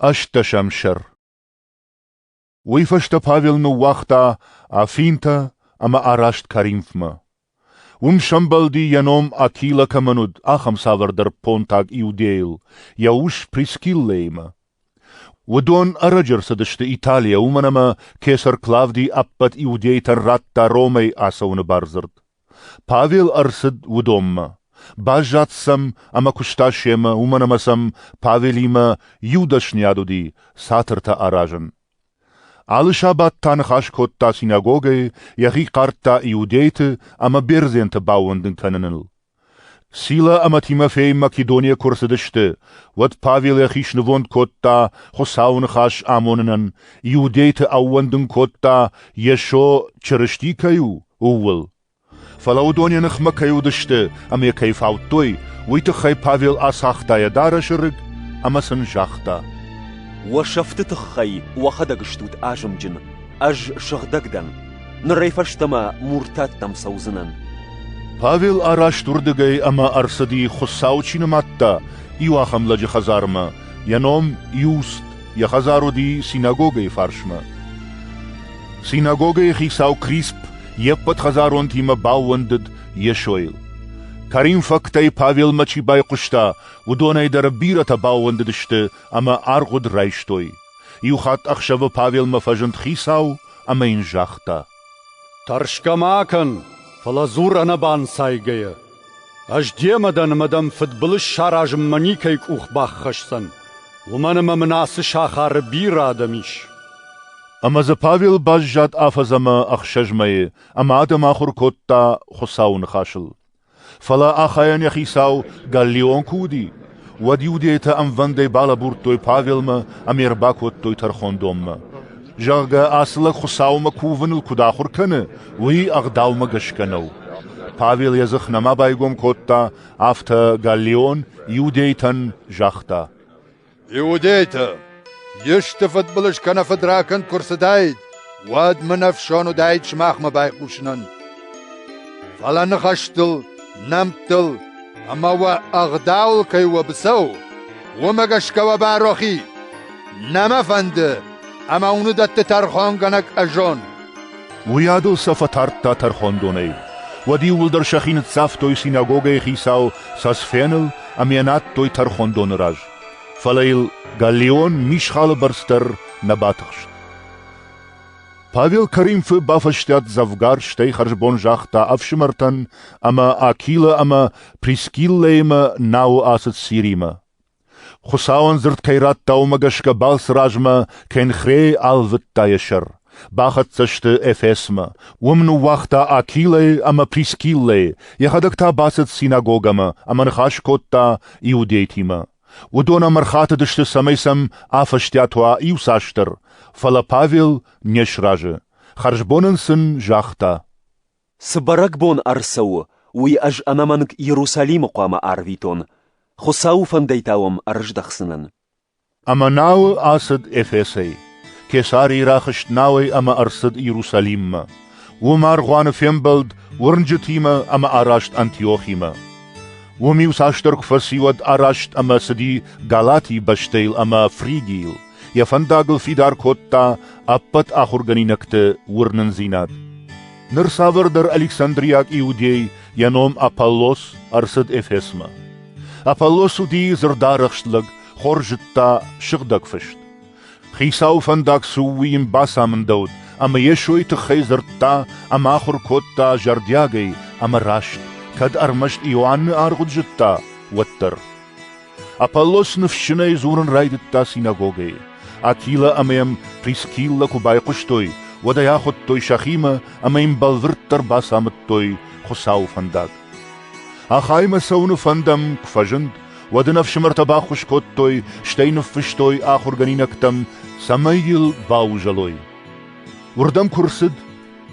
ӕстдӕсӕм сӕр. Уый фӕстӕ Павел ныууагъта Афинтӕ ӕмӕ араст Коринфмӕ. Уым сӕмбӕлди, йӕ ном Акила кӕмӕн уыд, ахӕм цавӕрдӕр понтаг иудейыл, йӕ ус Прискиллӕимӕ. Уыдон ӕрӕджы ӕрцыдысты Италийӕ, уымӕн ӕмӕ кесар Клавди ӕппӕт иудейтӕн радта Ромӕй ацӕуыны бардзырд. Павел ӕрцыд уыдонмӕ. Баззад сӕм ӕмӕ куыста семӕ, уымӕн ӕмӕ сӕм Павелимӕ иу дӕсныйад уыди цатыртӕ аразын. Алы сабат та ныхас кодта синагогӕйы, йӕхи хъардта иудейты ӕмӕ бердзенты баууӕндын кӕныныл. Сила ӕмӕ Тимофей Македонийӕ куы ӕрцыдысты, уӕд Павел йӕхи снывонд кодта Хуыцауы ныхас амонынӕн, иудейты ӕууӕндын кодта, Йесо Чырысти кӕй у, ууыл. Фӕлӕ уыдон йӕ ныхмӕ кӕй уыдысты ӕмӕ йӕ кӕй фаудтой, уый тыххӕй Павел ацагъта йӕ дарӕсы рыг ӕмӕ сын загъта: «Уӕ сӕфты тыххӕй уӕхӕдӕг стут азымджын, ӕз сыгъдӕг дӕн. Нырӕй фӕстӕмӕ муртаттӕм цӕудзынӕн. Павел араст уырдыгӕй ӕмӕ ӕрцыди, Хуыцау чи нымадта, иу ахӕм лӕджы хӕдзармӕ, йӕ ном Иуст, йӕ хӕдзар уыди синагогӕйы фарсмӕ. Синагогӕйы хицау Крисп йе ппӕт хӕдзаронтимӕ баууӕндыд Йесойыл. Кӕринфӕгтӕй Павелмӕ чи байхъуыста, уыдонӕй дӕр бирӕтӕ баууӕндыдысты ӕмӕ аргъуыд райстой. Иу хатт ӕхсӕвы Павелмӕ фӕзынд хицау ӕмӕ йын загъта: «Тӕрсгӕ ма кӕн, фӕлӕ дзур ӕнӕбанцайгӕйӕ. Ӕз демӕ дӕн ӕмӕ дӕм фыдбылыз саразынмӕ никӕй къух баххӕсдзӕн, уымӕн ӕмӕ мын ацы сахары бирӕ адӕм ис». Ӕмӕ дзы Павел баззад афӕдз ӕмӕ ӕхсӕз мӕйы ӕмӕ адӕм ахуыр кодта Хуыцауы ныхасыл. Фӕлӕ ахайӕн йӕ хицау Галлион куы уыди, уӕд иудейтӕ ӕмвӕндӕй балӕбурдтой Павелмӕ ӕмӕ ӕрбакодтой тӕрхондонмӕ, зӕгъгӕ, ацы лӕг Хуыцаумӕ кувыныл куыд ахуыр кӕны, уый ӕгъдаумӕ гӕсгӕ нӕу. Павел йӕ дзых нӕма байгом кодта, афтӕ Галлион иудейтӕн загъта: Иудейтӕ, исты фыдбылыз кӕнӕ фыдракӕнд куы рцыдаид, уӕд мын ӕфсон уыдаид сымахмӕ байхъусынӕн. Фӕлӕ ныхӕстыл, нӕмттыл ӕмӕ уӕ ӕгъдауыл кӕй уӕ быцӕу, уымӕ гӕсгӕ уӕ барохи. Нӕ мӕ фӕнды, ӕмӕ уын уыдӕтты тӕрхонгӕнӕг ӕзон. Уыйадыл сӕ фӕтардта тӕрхондонӕй. Уӕд иууылдӕр сӕхи ныццавтой синагогӕйы хицау Сосфеныл ӕмӕ йӕ надтой тӕрхондоны раз, фӕлӕ йыл Галлион мисхалы бӕрц дӕр нӕ батыхст. Павел Коринфы бафӕстиат дзӕвгар, стӕй хӕрзбон загъта ӕфсымӕртӕн ӕмӕ Акилы ӕмӕ Прискиллӕимӕ науы ацыд Сиримӕ. Хуыцауӕн дзырд кӕй радта, уымӕ гӕсгӕ балцы размӕ Кенхрей алвыдта йӕ сӕр. Бахӕццӕ сты Эфесмӕ. Уым ныууагъта Акилӕйы ӕмӕ Прискиллӕйы, йӕхӕдӕг та бацыд синагогӕмӕ ӕмӕ ныхас кодта иудейтимӕ. Уыдон ӕм ӕрхатыдысты, цӕмӕй сӕм афӕстиат уа иуцасдӕр, фӕлӕ Павел не сразы. Хӕрзбон ын сын загъта. «Цы бӕрӕгбон ӕрцӕуы, уый ӕз ӕнӕмӕнг Иерусалимы хъуамӕ арвитон. Хуыцауы фӕндӕй та уӕм ӕрыздӕхдзынӕн». Ӕмӕ науы ацыд Эфесӕй. Кесарийы рахызт науӕй ӕмӕ ӕрцыд Иерусалиммӕ. Уым аргъуаны фембӕлд уырнджытимӕ ӕмӕ араст Антиохимӕ. Уым иуцасдӕр куы фӕци, уӕд араст ӕмӕ цыди Галатийы бӕстӕйыл ӕмӕ Фригийыл, йӕ фӕндагыл фидар кодта ӕппӕт ахуыргӕнинӕгты уырнындзинад. Ныр цавӕрдӕр Александрийаг иудей, йӕ ном Аполлос, ӕрцыд Эфесмӕ. Аполлос уыди дзырдарӕхст лӕг, хорз зыдта сыгъдӕг фыст. Хицауы фӕндаг цы у, уый йын бацамындӕуыд, ӕмӕ Йесойы тыххӕй дзырдта ӕмӕ ахуыр кодта зӕрдиагӕй ӕмӕ раст, кӕд ӕрмӕст Иоанны аргъуыд зыдта, уӕддӕр. Аполлос ныфсджынӕй дзурын райдыдта синагогӕйы. Акила ӕмӕ йӕм Прискиллӕ куы байхъуыстой, уӕд ӕй ахуыдтой сӕхимӕ ӕмӕ йын бӕлвырддӕр бацамыдтой Хуыцауы фӕндаг. Ахаймӕ цӕуыны фӕндӕм куы фӕзынд, уӕд ын ӕфсымӕртӕ баххуыс кодтой, стӕй ныффыстой ахуыргӕнинӕгтӕм, цӕмӕй йыл баузӕлой. Уырдӕм куы рцыд,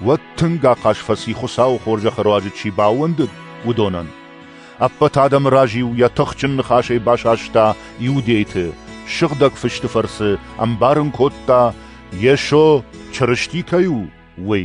уӕд тынг ахъаз фӕци Хуыцауы хорзӕхы руаджы чи баууӕндыд, уыдонӕн. Ӕппӕт адӕмы раз-иу йӕ тыхджын ныхасӕй басаста иудейты, сыгъдӕг фысты фӕрцы ӕмбарын кодта, Йесо Чырысти кӕй у, уый.